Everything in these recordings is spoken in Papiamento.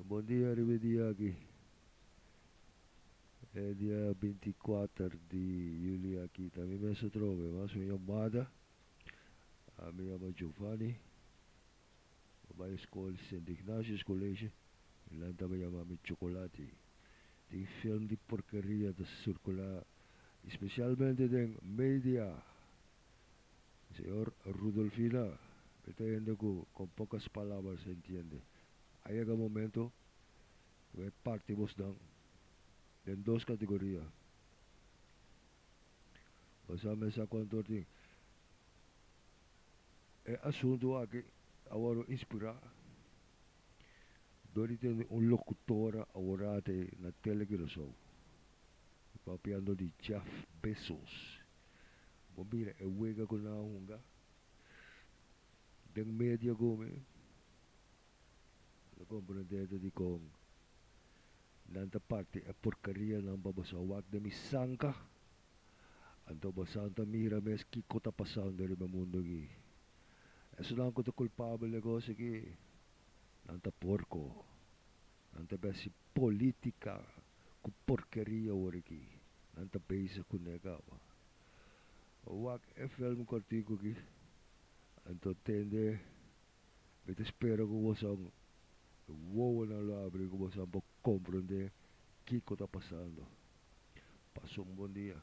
Bon dia riba e dia aki. E dia binti i kuater di yuli aki ta mi mes ta troba e mas mi yamada. Mi yama Giovani. Mi bai skol Sint Ignatius College. Nan taba yama mi chocolati. Tin film di porkeria ta circula especialmente den media. Señor Rudolfina, e ta hende ku kon pokas palabras e ntiende. A yega momento ku e parti bos nan den dos kategoria. Bo sa mesa kon tur tin. E asuntu aki a wòrdu inspirá dor di tene un lokutora awor-ate na tele Kurasow, papiando di Jeff Bezos. Bo mira e wega ku nan a hunga den media ku mi? Lo ta komprendendo dikon nan ta parti e porkarianan pa boso a wak den mi sanka. Anto bosonan ta mira mes kiko ta pasando riba e mundu aki. Esonan ku ta kulpabel di e kos aki, nan ta porko. Nan ta besi politica cu porkeria hoor aki. Nan ta bezig cu ne caba. Wak e film cortico aki. Anto tende mi ta spera cu bosan e wowonan lo abri cu bosan por comprende kico ta pasando. Pasa un bon dia.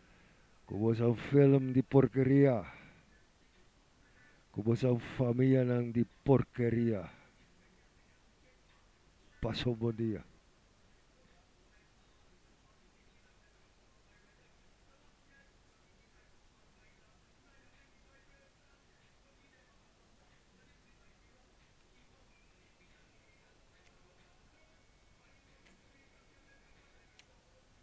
Ku boso a film di porkeria. Ku boso a famianan di porkeria. Paso bo dia.